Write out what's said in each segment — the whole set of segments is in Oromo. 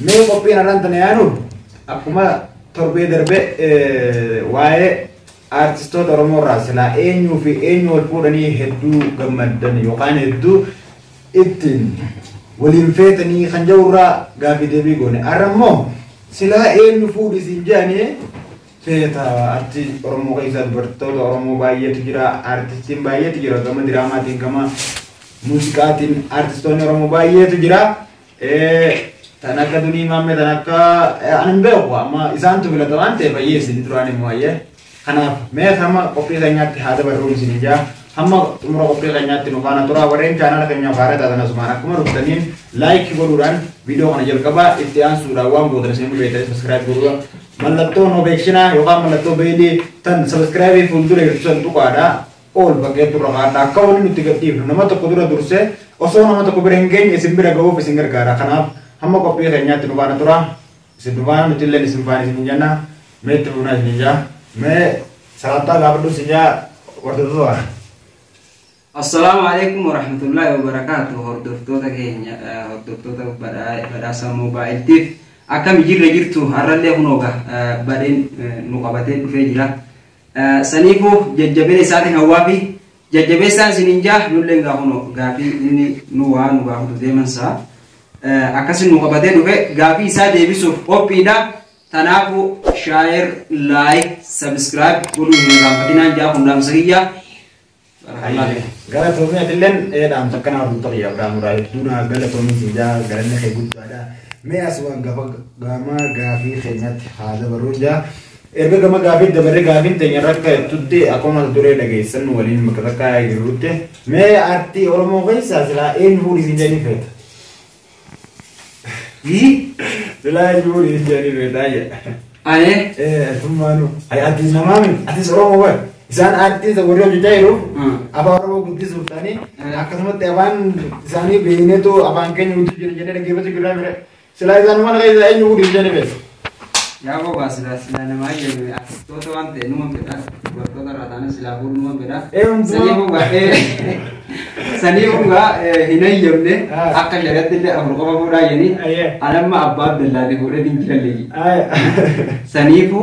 Mee qophiin har'aan tana yaanu akkuma torbee darbe waa'ee aartistoota Oromoo irraa silaa eenyuu fi eenyu wal fuudhanii hedduu gammaddan yookaan hedduu ittiin waliin feetanii kan jedhu irraa gaaffii deebii goone. Har'a immoo silaa eenyu fuudhi siin jedhanii feeta artii Oromoo keessaa dubartoota Oromoo baay'eetu jira aartistiin baay'eetu jira gama diraamaatiin gama muuziqaatiin aartistoonni Oromoo baay'eetu jira. Ee, tan akka dunii maammee tan akka eh, ani hin beeku amma isaantu filata waan ta'eef ayyee isin duraan immoo ayyee. Kanaaf mee hamma qophii keenyaatti haa dabarruun isin ijaa hamma xumura qophii keenyaatti nu faana tura warreen chaanala keenyaaf haaraa taatan asumaan akkuma dhuftaniin laayikii godhuudhaan viidiyoo kana jalqabaa itti aansuudhaan waan gootan isin beektan sabiskiraayib godhuudha. Mallattoo nobeekshinaa yookaan mallattoo beelii tan sabiskiraayibii fuuldura ibsan tuqaadha. Ool baqee turra kaadha akka woli nutti gad dhiifnu nama tokko dura dursee osoo nama tokko bira hin geenye isin bira ga'uuf isin gargaara kanaaf hamma qophii keenyaatti nu faana tura isin nu faana nuti illeen isin faana isinin jenna mee itti fufnaa isinin jaa mee salaamtaa gaafadhu isin jaa hordoftoota Assalaamu alaikum warahmatullahi wabarakaatu hordoftoota keenya eh, hordoftoota badhaa- badhaasa moobaayiltiif akkami jirra jirtu har'allee kunoo ga eh, badheen eh, nu qabatee dhufee jira Saniifuu jajjabina isaatiin hawwaafii. Jajjabeessaan isiniin jaa nulleen gaa kunoo gaafii inni nu waa nu gaafatu deeman saa akkasi nu qabatee dhufe gaafii isaa deebisuuf qophiidha. Tanaafu share like subscribe godhuu hin irraanfatinaan jaa kun dhaamsa kiyya. Galatoomi atilleen dhaan takka naa fuuta kiyya Abdaan Muraa hedduu naa galatoomi siin jaa galanni kee guddaadha. Mee asumaan gafa gama gaafii keenyatti haa dabarruun jaa. Erga gama gaafii dabarre gaafiin teenya rakka jettutti akkuma mata duree dhageessan waliin makasakkaa jirrutti mee artii Oromoo keessaa silaa eenyu fuudhisiin jedhanii feeta. Silaa jiruun hin jedhani beetaa jedha. Aye. Eh, atummaanu. Ay, ati namaa miti. Atis Oromoo bar. Isaan aartii isa warri hojjechaa jiru. Hmm. Afaan Oromoo guddisuuf ta'anii Hmm. akkasumatti afaan isaanii beekneetu afaan keenya guddisuu jira jennee dhaggeeffachuu jirraa mire. Silaa isaan mana keessa eenyu guddisuu jennee beeku. Yaa gowaa silaa silaa namaa eyyamee artistoota waan ta'e numan fedha dubartoota irraa taana silaa fuudhu numan fedha Eeyyamtu. sanii hungaa ee sanii hungaa ee, hin eyyamne Ah. akka shari'atti illee afur qofa fuudhaa jedhanii Ayyee. anamma abbaa abdallaati fuudhee hin jiran leeyyi Aaya. saniifu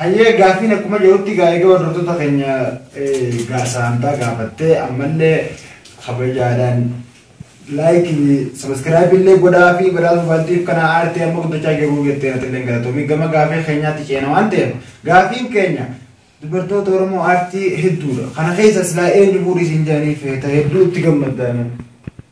Hayyee gaafiin akkuma jirutti egaa egaa hordoftoota keenya saantaa gaafattee ammallee kabajaadhaan laayikii sabiskiraayibii illee godhaa fi badhaasa mobaayiltiif kana aartee amma guddachaa jiruu jettee natti illee galatoomii gama gaafii keenyaatti ceena waan ta'eef gaafiin keenya dubartoota Oromoo aartii hedduudha. Kana keessa silaa eenyu fuudhii siin jedhanii feeta hedduu itti gammaddaanu.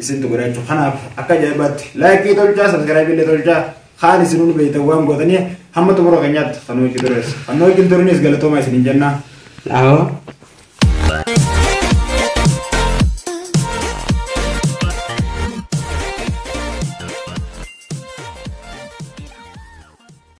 isintu godha jechuudha. Kanaaf akka ajaa'ibaatti laayikii tolchaa saskiraayibii illee tolchaa kaan isin hundi beektan waan gootanii hamma xumura keenyaatti kan hojii tures. Kan hojii turinis galatoomaa isin hin jennaa. Dhaawaa.